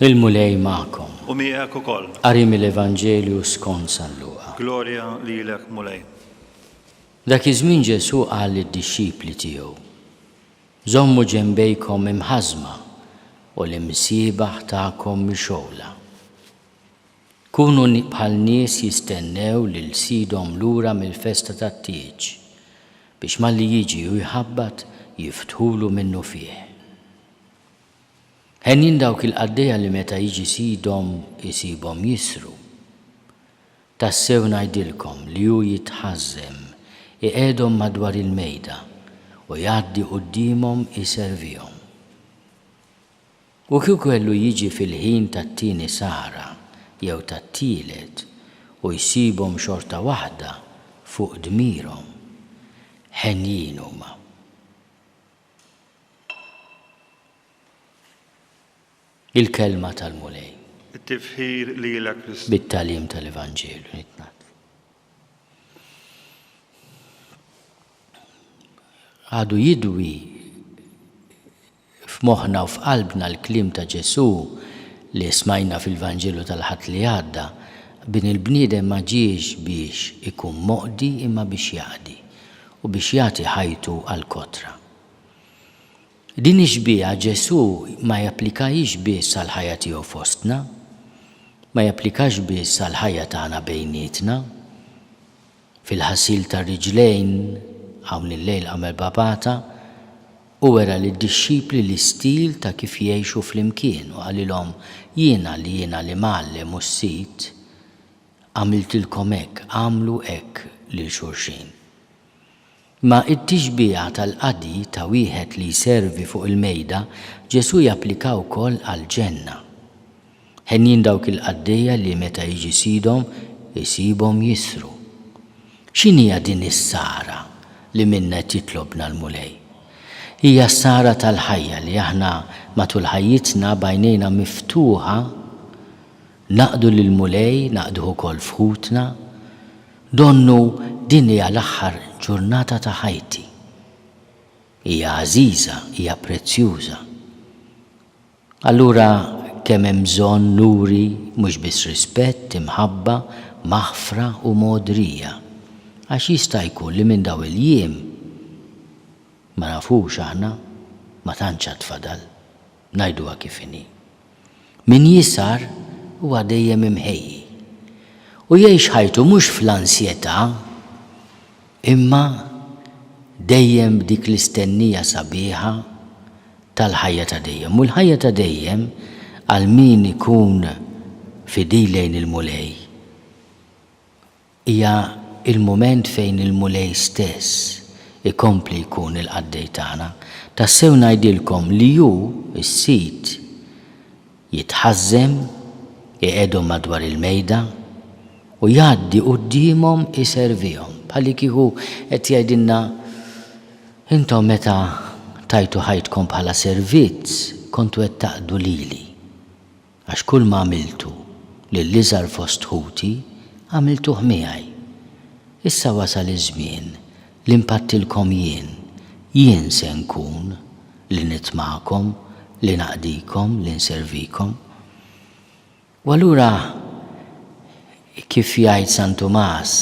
Il-Mulej magħkom. U miegħek ukoll. Qari mill-Evanġelju skont San Luqa. Glorja lilek Mulej. Dak iż-żmien Ġesù qal lid-dixxipli tiegħu, Żommu ġenbejkom imħażma u l-imsiebaħ tagħkom mixgħula. Kunu bħal nies jistennew lil sidhom lura mill-festa tat-tieġ, biex malli jiġi u jħabbat, jiftħulu minnufih. Henjin dawk il-qaddejja li meta jiġi sidhom isibhom jisru. Tassew ngħidilkom li hu jitħażżem iqiegħdhom madwar il-mejda u jgħaddi quddiemhom iservihom. U kieku kellu jiġi fil-ħin tat-tieni sahra jew tat-tielet u jsibhom xorta waħda fuq dmirhom, henjin huma. Il-Kelma tal-Mulej. It-tifħir lilek Kristu. Bit-tagħlim tal-Evanġelju nitnad. Għadu jidwi f'moħħna u f'qalbna l-kliem ta' Ġesù li smajna fil-Vanġelu tal-Ħadd li għadda, Bin il-bniedem ma ġiex biex ikun moqdi imma biex jaqdi, u biex jagħti ħajtu għall-kotra. Din ix-xbieha Ġesù ma japplikahiex biss għall-ħajja tiegħu fostna, ma japplikax biss għall-ħajja tagħna bejnietna. Fil-ħasil tar-riġlejn, hawn illejl għamel bapata u wera lid-dixxipli l-istil ta' kif jgħixu flimkien u qalilhom, Jiena li jiena l-Imgħallem u s-Sid, għamiltilkom hekk, agħmlu hekk lil xulxin. Ma' t-tixbiha tal-qadi ta' wieħed li jservi fuq il-mejda, Ġesù japplika wkoll għall-ġenna. Henjin dawk il-qaddejja li meta jiġi sidhom isibhom jisru. X'inhija din is-sara li minnha qed jitlobna l-Mulej? Hija s-sara tal-ħajja li aħna matul ħajjitna b'għajnejna miftuħa naqdu lill-Mulej, naqduh ukoll f'ħutna, Donnu din hija l-aħħar ġurnata ta' ħajti. Hija għażiża, hija prezzjuża. Allura kemm hemm bżonn nuri mhux biss rispett, imħabba, maħfra u mogħdrija. Għax jista' jkun li minn dawn il-jiem, ma nafux aħna, ma tantx għad fadal. Ngħiduha kif inhi. Min jisgħar huwa dejjem imħejji u jgħix ħajtu mhux fl-ansjetà imma dejjem b'dik l-istennija sabiħa tal-ħajja ta' dejjem. U l-ħajja ta' dejjem għal min ikun fidil lejn il-Mulej Hija l-mument fejn il-Mulej stess ikompli jkun il-qaddej tagħna. Tassew ngħidilkom li hu, is-sid, jitħażżem, iqegħedhom madwar il-mejda, u jgħaddi quddiemhom iservihom. Bħallikieku qed jgħidilna, Intom meta tajtu ħajtkom bħala servizz, kontu qed taqdu lili. Għax kull ma għamiltu lill-iżgħar fost ħuti, għamiltuh miegħi. Issa wasal iż-żmien li npattilkom jien, jien se nkun li ngħid magħkom, li naqdikom, li nservikom. U allura, kif jgħid San Tumas,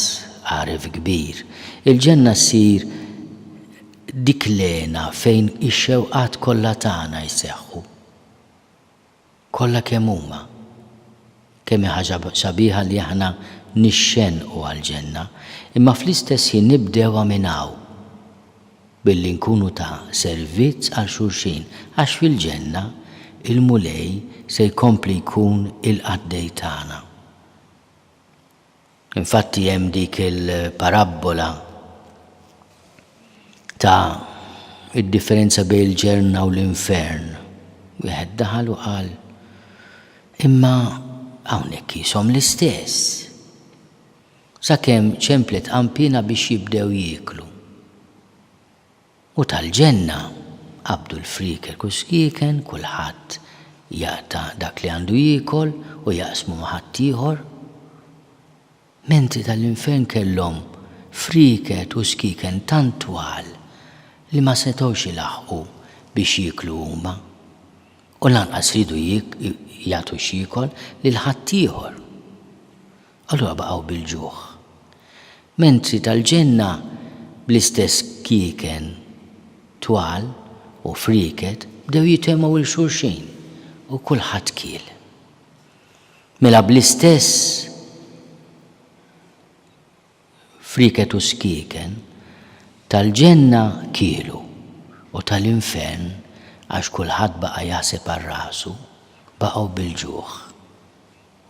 għaref kbir, il-ġenna ssir dik l-hena fejn ix-xewqat kollha tagħna jseħħu. Kollha kemm huma. Kemm hi ħaġa sabiħa li aħna nixxennqu għall-ġenna, imma fl-istess ħin nibdewha minn hawn, billi nkunu ta' servizz għal xulxin, għax fil-ġenna, il-Mulej se jkompli jkun il-qaddej tagħna. Infatti hemm dik il-parabbola ta' id-differenza bejn il-ġenna u l-infern. Wieħed daħal u qal, imma hawnhekk qishom l-istess. Sakemm ċemplet qanpiena biex jibdew jieklu. U tal-ġenna, qabdu l-frieker u s-skieken, kulħadd jaqta' dak li għandu jiekol u jaqsmu ma' ħaddieħor. Mentri tal-infern kellhom frieket u skieken tant twal li ma setgħux ilaħħqu biex jieklu huma, u lanqas riedu jagħtu x'jiekol lil ħaddieħor. Allura baqgħu bil-ġuħ. Mentri tal-ġenna bl-istess kieken twal u frieket bdew jitgħemgħu 'il xulxin u kulħadd kiel. Mela bl-istess frieket u skieken tal-ġenna kielu u tal-infern għax kulħadd baqa' jaħseb għal rasu, baqgħu bil-ġuħ.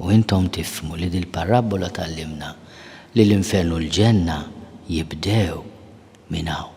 U intom tifhmu li dil-parabbola tgħallimna li l-infern u l-ġenna jibdew minn hawn.